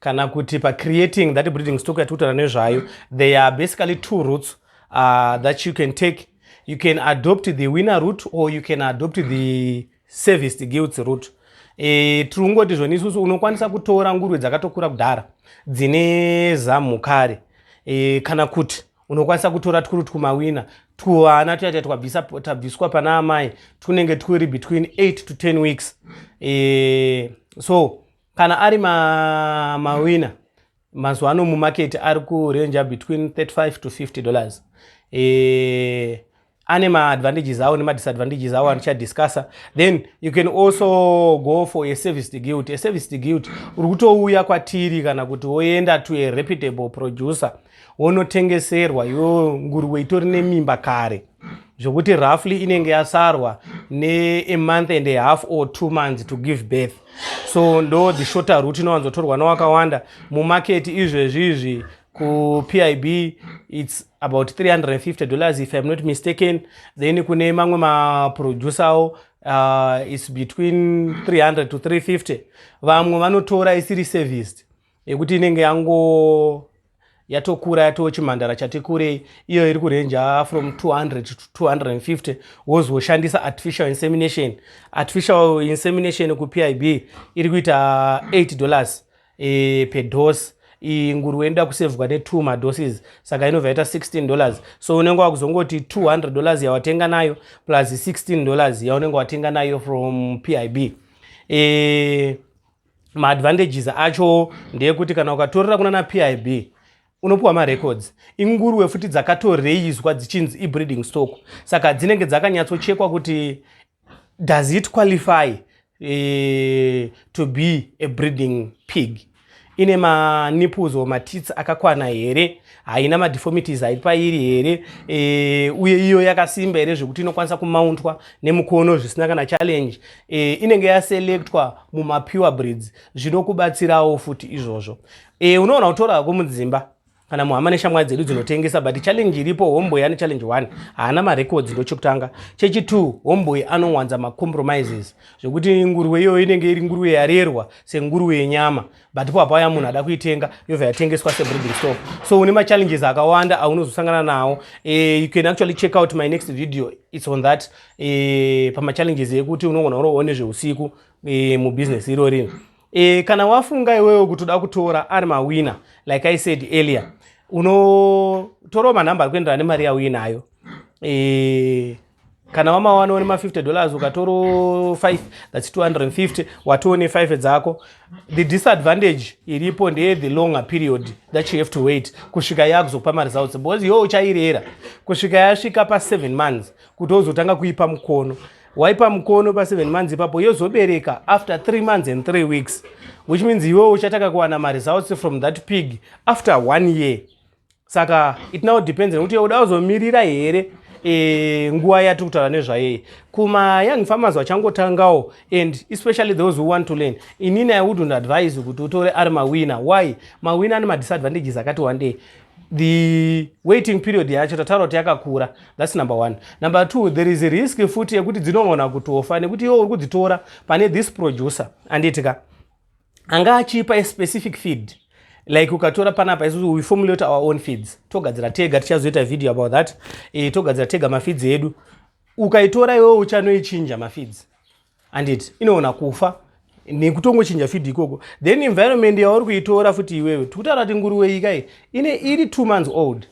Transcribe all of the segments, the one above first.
kana kuti pacreating that breeding stock yatikutora nezvayo there are basically two roots uh, that you can take you can adopt the winner root or you can adopt the serviced guilds root e, tiri kungoti zvoni isusu unokwanisa kutora nguruve dzakatokura kudhara dzine zamu kare e, kana kuti unokwanisa kutora twuri twumawina twuvana tuyati twabviswa pana amai twunenge twuri between 8 to 10 weeks e, so kana ari mawina mazuva ano mumaketi ari kurenja between 35 to 50 dollars e, ane maadvantages awo nemadisadvantages awo andichadiscussa then you can also go for a service degilt a service degilt uri kutouya kwatiri kana kuti woenda to a reputable producer wonotengeserwa yo nguruwe itori nemimba kare zvokuti roughly inenge yasarwa neamonth and ahalf or two months to give birth so ndo the shorter root inowanzotorwa nowakawanda mumaketi izvezvi izvi kupib its about 350 dollars if im not mistaken then kune mamwe maproducerawo uh, its between 300 to 350 vamwe vanotora isiri serviced yekuti inenge yango yatokura yatoo chimhandara chati kurei iyo iri kurenja from 200 to 250 wozoshandisa artificial insemination artificial insemination kupib iri kuita 8 dollars e, per dose iyi nguruwe inoda kusevhwa ne2 madoses saka inobva yaita 16 dollars so unenge wakuzongoti 200 dollars yawatenga nayo plus 16 dollars yaunenge watenga nayo from pib e, maadvantages acho ndeyekuti kana ukatorera kunana pib unopiwa marecords inguruwe futi dzakatoreizwa dzichinzi ibreeding stock saka dzinenge dzakanyatsochekwa kuti does it qualify e, to be a breeding pig ine maniples or matits akakwana here haina madeformities ari pairi here e, uye iyo yakasimba here zvekuti inokwanisa kumauntwa nemukono zvisina kana challenge e, inenge yaselectwa mumapure breeds zvinokubatsirawo futi izvozvo e, unoona kutora hako mudzimba kana muhama neshamwari dzedu dzinotengesa but challenge iripo homeboy ane challenge one haana marecords ndochekutanga chechitwo homeboy anowanza macompromises zvekuti nguruwe iyoyo inenge iri nguruwe yarerwa senguruwe yenyama but ipo hapauya munhu ada kuitenga yobva yatengeswa sebreeding stock so une machallenges akawanda aunozosangana nawo eh, you can actually check out my next video its on that eh, pamachallenges ekuti unogona uroone zveusiku eh, mubusiness iro rino kana wafunga iwewo kuti uda kutora ari mawina like i said earlier unotorawo manhamba ari kuenderana nemari yauinayo kana wamawana une ma50 dollars ukatoro 5 thats 250 watione 5 dzako the disadvantage iripo ndeye the longer period that you have to wait kusvika yakuzokupa maresults because yo uchairera kusvika yasvika pa 7 months kuti wozotanga kuipa mukono waipa mukono pa 7 months ipapo yozobereka after 3 months and 3 weeks which means iwewo uchatanga kuwana maresults from that pig after one year saka it now depends nekuti uda uzomirira here e, nguva yati kutaura nezvayeye kuma young farmers vachangotangawo and especially those who want to learn inini i wouldn't advise kuti utore ari mawina why mawina ane madisadvantages akati wandei the waiting period yacho tataura kuti yakakura thats number one number two there is a risk futi yekuti dzinogona kutofa nekuti iwo uri kudzitora pane this producer anditika anga achipa a specific feed like ukatora panapa isu we formulate our own feeds togadzira tega tichazoita video about that e, togadzira tega mafeeds edu ukaitora iwewe uchanoichinja mafeeds andit inoona kufa nekutongochinja feed ikoko then environment yauri kuitora futi iwewe tikutaura kuti nguruwe ikai ine iri two months old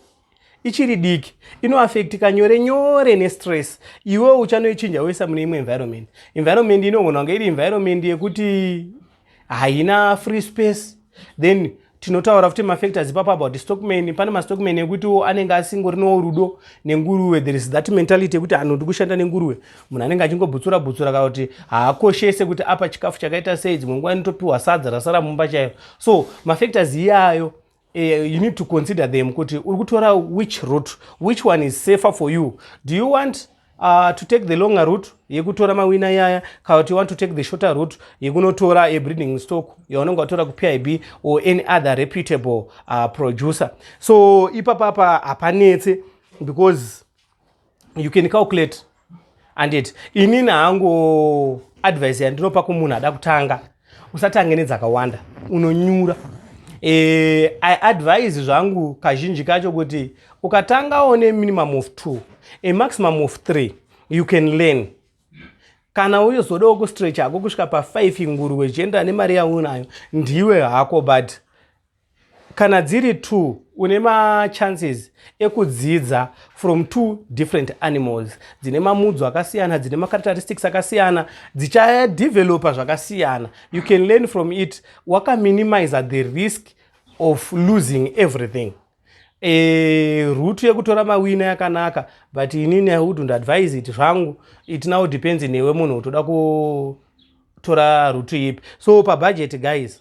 ichiri diki inoafectika nyore nyore nestress iwe uchanoichinja woisa mune imwe environment environment inogona kunge iri environment yekuti haina free space then tinotaura futi mafactors ipapo about stockman pane mastockman ekutiwo anenge asingorinowo rudo nenguruve there is that mentality yekuti anhu ndikushanda nenguruve munhu anenge achingobutsura butsura kana kuti haakoshese kuti apa chikafu chakaita sei dzimwe nguva inotopiwa sadza rasara mumba chaiyo so mafactors iyayo Uh, you need to consider them kuti uri kutora which route which one is safer for you do you want uh, to take the longer route yekutora mawina yaya kana kuti you want to take the shorter route yekunotora a breeding stock yaunenge watora kupib or any other reputable uh, producer so ipapapa hapanetse because you can calculate andit inini hangu advice yandinopa kumunhu ada kutanga usatange nedzakawanda unonyura e, i advise zvangu kazhinji kacho kuti ukatangawo neminimum of two a maximum of three you can learn kana uyozodawo kustretch hako kusvika pafive nguruwe zvichienderana nemari yaunayo ndiwe hako but Kana dziri two une machances ekudzidza from two different animals dzine mamudzo akasiyana dzine macharacteristics akasiyana dzichadevelopa zvakasiyana you can learn from it wakaminimiza the risk of losing everything e, eh, rutu yekutora mawina yakanaka but inini i wouldnt advise it zvangu it now depends newe munhu utoda kutora rutu ipi so pabudget guys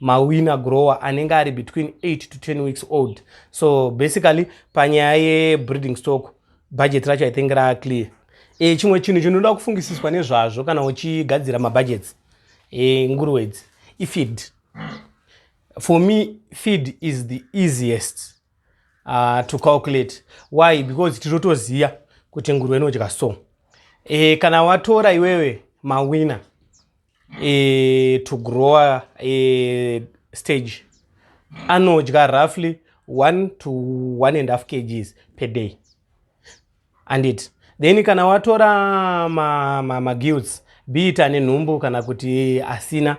mawina grower anenge ari between 8 to 10 weeks old so basically panyaya yebreeding stock budget racho i think raa clear e, chimwe chinhu chinoda kufungisiswa nezvazvo kana uchigadzira mabudgets e, nguruwe idzi ifeed for me feed is the easiest uh, to calculate why because tinotoziva kuti nguruwe inodya so e, kana watora iwewe mawina e, to grower e, stage anodya roughly 1 to 1 and half kgs per day andit then kana watora magilts ma, ma be it ane nhumbu kana kuti asina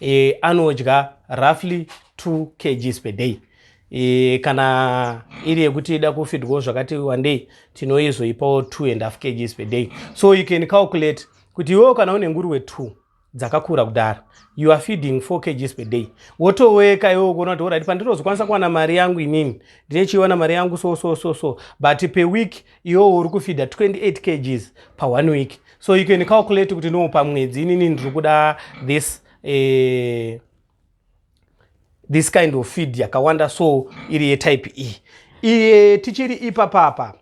e, anodya roughly 2 kgs per day e, kana iri yekuti ida kufidwawo zvakati wandei tinoizoipawo 2 and half kgs per day so you can calculate kuti iwewo kana une nguruwe two dzakakura kudaro you are feeding four kgs per day wotoweka iwewo kuona kuti orit pandirozokwanisa kuwana mari yangu inini ndine chiiwana mari yangu so so so so but per week iwewo uri kufeeda 28 kgs pa one week so you can calculate kuti no pamwedzi inini ndiri kuda this eh, this kind of feed yakawanda so iri yetype e iye tichiri ipapapa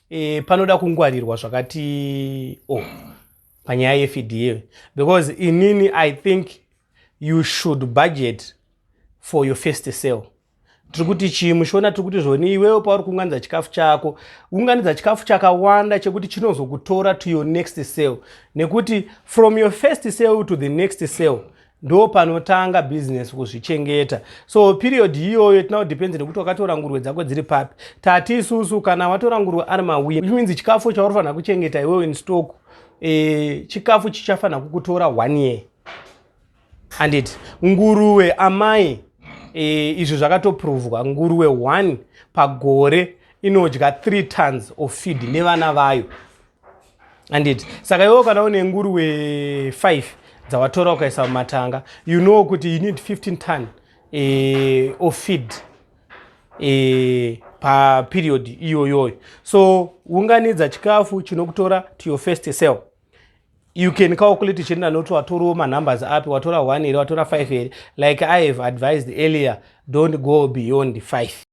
e, panoda kungwarirwa zvakati o oh, panyaya yefda because inini i think you should budget for your first sale tiri kuti chii muchiona tiri kuti zvoni iwewo pauri kuunganidza chikafu chako unganidza chikafu chakawanda chekuti chinozokutora to your next sale nekuti from your first sale to the next sale ndo panotanga business kuzvichengeta so period iyoyo tina kudepends nekuti wakatora nguruve dzako dziri papi tati isusu kana watora nguruve ari mawin which means chikafu chaurifanira kuchengeta iwewe in stock e, chikafu chichafanira kukutora one year handiti nguruve amai e, izvi zvakatoprovwa nguruve one pagore inodya three tons of feed nevana vayo anditi saka iwewo kana une nguruwe 5 dzawatora ukaisa mumatanga you know kuti you need 15 ton eh, of feed eh, paperiod iyoyoyo so unganidza chikafu chinokutora to your first cell you can calculate chienda noti watoriwo manumbers api watora 1 here watora 5 here like i have advised earlier don't go beyond 5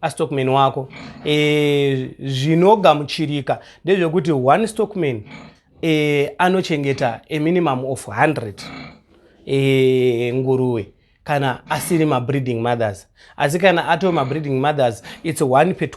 astockman wako e, zvinogamuchirika ndezvekuti one stockman e, anochengeta a minimum of 100 e, eh, nguruwe kana asiri mabreeding mothers asi kana atoo mabreeding mothers its one per 20